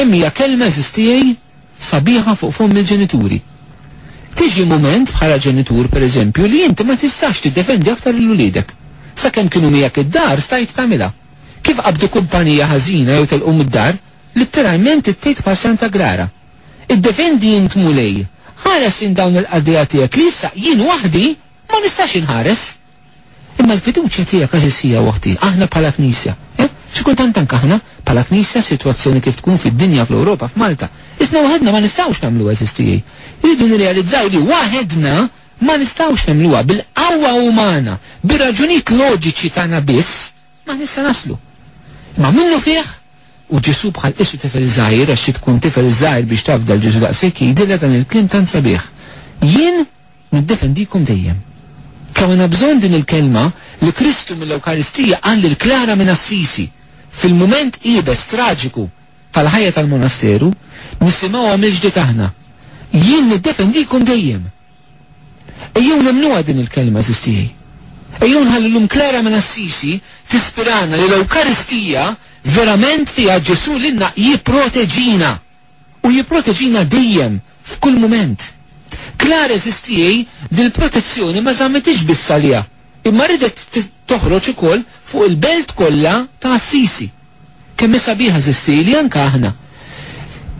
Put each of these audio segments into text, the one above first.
Kemm hija kelma eżiż tiegħi sabiħa fuq fomm il-ġenituri. Tiġi mument bħala ġenitur pereżempju li inti ma tistax tiddefendi aktar lil uliedek. Sakemm kienu miegħek id-dar stajt tagħmilha. Kif qabdu kumpanija ħażina jew telqu mid-dar, litteralment ittejt bħal Santa Clara. Iddefendi int Mulej, ħares int dawn il-qaddejja tiegħek li issa jien waħdi ma nistax inħares. Imma l-fiduċja tiegħek għażiż hija u oħti, aħna bħala Knisja, eh, xi kultant anke aħna, bħala Knisja, sitwazzjoni kif tkun fid-dinja, fl-Ewropa, f'Malta, isna waħedna ma nistgħux nagħmlu għażiż tiegħi. Irridu nirrealizzaw li waħedna ma nistgħux nagħmluha, bil-qawwa umana, bir-raġunijiet loġiċi tagħna biss, maħniex se naslu. Imma minnufih, u Ġesù bħal qissu tifel żgħir, għax trid tkun tifel żgħir biex tafda 'l Ġesù daqshekk, jgħidilha dan il-kliem tant sabiħ, Jien Niddefendikom dejjem. Kemm għandna bżonn din il-kelma li Kristu mill-Ewkaristija qal lil Klara minn Assisi! Fil-mument iebes traġiku tal-ħajja tal-monasteru, nisimgħuha mill-ġdid aħna, Jien niddefendikom dejjem! Ejjew nemmnuha din il-kelma, għażiż tiegħi. Ejjew nħallu llum Klara minn Assisi tispirana li l-Ewkaristija verament fiha Ġesù lilna jipproteġina! u jipproteġina dejjem f'kull mument. Clare STEA dil-protezzjoni ma żammitiex biss għaliha, imma ridet toħroġ ukoll fuq il-belt kollha ta' Assisi. Kemm hi sabiħa STEA li anke aħna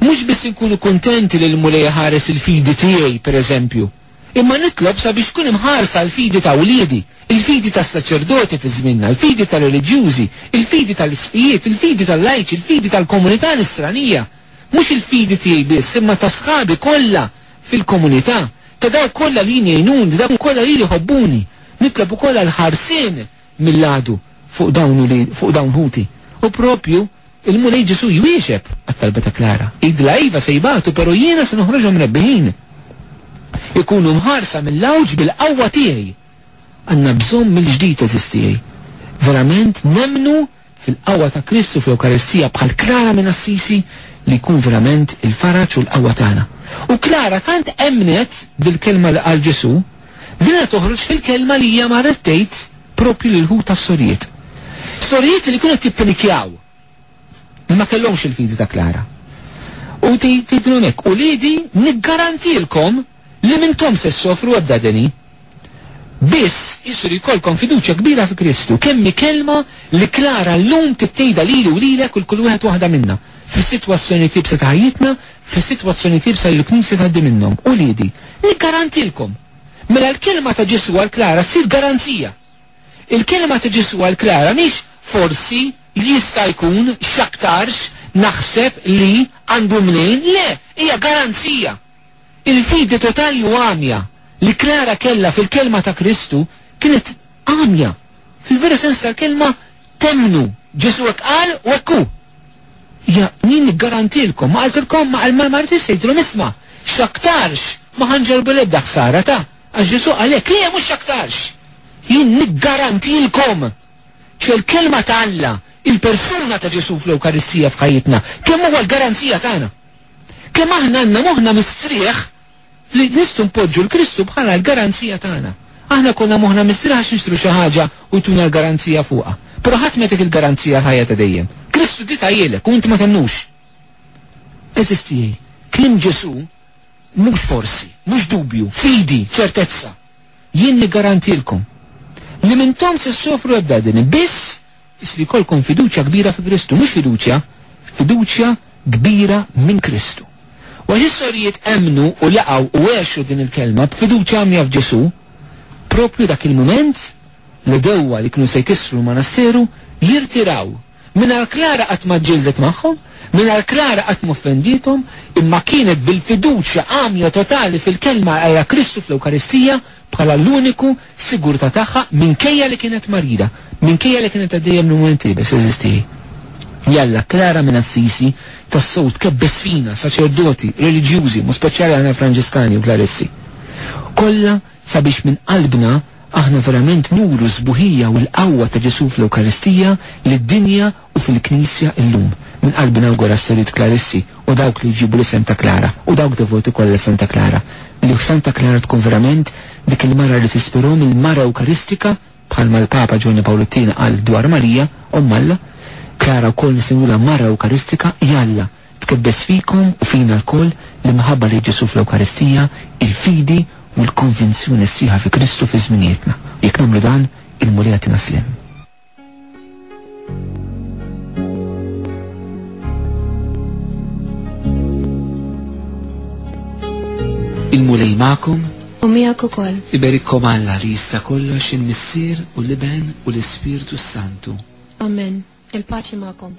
mhux biss inkunu kuntenti li l-Mulej iħares il-fidi tiegħi, pereżempju, Imma nitlob sabiex tkun imħarsa l-fidi ta' wliedi, il-fidi tas-saċerdoti fi żmienna, il-fidi tar-reliġjużi, il-fidi tal-isqfijiet, il-fidi tal-lajċi, il-fidi tal-komunità nisranija, mhux il-fidi tiegħi biss, imma ta' sħabi kollha fil-komunità, ta' dawk kollha li jien jgħinuni, dawk kollha lili jħobbuni. Nitlob ukoll għall-ħarsien mill-għadu fuq dawn u li fuq dawn ħuti. U proprju l-Mulej Ġesù jwieġeb għat-talba ta' Klara. Jgħidilha iva se jbatu pero' jiena se noħroġhom rebbiħin. Ikunu mħarsa mill-għawġ bil-qawwa tiegħi. Għandna bżonn mill-ġdid għeżież tiegħi. Verament nemmnu fil-qawwa ta' Kristu fl-Ewkaristija bħal Klara minn Assisi li jkun verament il-faraġ u l-qawwa tagħna. U Klara tant emmnet bil-kelma li qal Ġesù li ridha toħroġ fil-kelma li hija marret tgħid proprju lil-ħut tas-sorijiet. Sorijiet li kienu qed jippinikjaw li ma kellhomx il-fidi ta' Klara. U tgħidilhom hekk, Uliedi niggarantilkom, li minnkom se ssofru ebda deni. Biss, qisu li jkollkom fiduċja kbira fi Kristu. Kemm hi kelma li klara llum tittejda lili u lilek u l kull wieħed waħda minna, fis-sitwazzjonijiet iebsa ta' ħajjitna, fis-sitwazzjonijiet iebsa li l-Knisja tgħaddi minnhom. Uliedi, niggarantilkom! Mela l-kelma ta' Ġesù għal Klara ssir garanzija. Il-kelma ta' Ġesù għal Klara mhix forsi, jista' jkun, x'aktarx, naħseb, li, għandu mnejn, le, hija garanzija! Il-fidi totali u għamja li Klara kellha fil-Kelma ta' Kristu kienet għamja. Fil-veru sens tal-kelma, temmnu, Ġesù hekk qal u hekk hu. Hija, jien niggarantilkom, ma qaltilkom, ma qal mal-martri se jgħidilhom isma', x'aktarx ma ħa nġorrbu l-ebda ħsara ta', għax Ġesù qal hekk, le, mhux x'aktarx! Jien niggarantilkom! Ċe l-Kelma ta' Alla, il-persuna ta' Ġesù fl-Ewkaristija f'ħajjitna, kemm huwa l-garanzija tagħna! Kemm aħna għandna moħħna mistrieħ li nistgħu npoġġu 'l Kristu bħala l-garanzija tagħna. Aħna jkollna moħħna mistrieħ għax nixtru xi ħaġa u jtuna l-garanzija fuqha. Però ħadd ma jagħtik il-garanzija għall-ħajja ta' dejjem. Kristu diet għajilek u int ma temmnux. Għeżież tiegħi, kliem Ġesù mhux forsi, mhux dubju, fidi, ċertezza. Jien niggarantilkom li m'intom se ssofru ebda deni, biss Biss li jkollkom fiduċja kbira fi Kristu, mhux fiduċja, fiduċja kbira minn Kristu. U għax is-sorijiet emmnu u laqgħu u għexu din il-kelma b'fiduċja għamja f'Ġesù, proprju dak il-mument, l-għedewwa li kienu se jkissru l-manasseru jirtiraw. Mingħajr Klara qatt ma ġġieldet magħhom, mingħajr Klara qatt ma offendiethom, imma kienet bil-fiduċja għamja totali fil-kelma għajra Kristu fl-Ewkaristija, bħala l-uniku sigurtà tagħha minkejja li kienet marida, minkejja li kienet għaddejja minn mument iebes, għeżież tiegħi. Jalla, Klara minn Assisi tassew tkebbes fina, saċerdoti, reliġjużi, b'mod speċjali aħna Franġiskani u Klaristi kollha sabiex minn qalbna aħna verament nuru s-sbuħija u l-qawwa ta' Ġesù fl-Ewkaristija lid-dinja u fil-Knisja illum. Minn qalbi nawgura s-Sorijiet Klarissi u dawk li jġibu l-isem ta' Klara u dawk devoti kollha Santa Klara li Santa Klara tkun verament dik il-mara li tispirhom, il-mara ewkaristika bħalma l-Papa Ġwanni Pawlu t-Tieni qal dwar Marija, Omm Alla. Klara wkoll nsemmulha mara ewkaristika, jalla tkebbes fikom u fina lkoll l-imħabba lejn Ġesù fl-Ewkaristija, il-fidi u l-konvinzjoni sħiħa fi Kristu fi żminijietna. U jekk nagħmlu dan, il-Mulej jagħtina sliem. Il-Mulej magħkom u miegħek ukoll. Iberikom Alla li jista' kollox il-Missier u l-Iben u l-Ispirtu Santu. Amen. Il-paċi magħkom.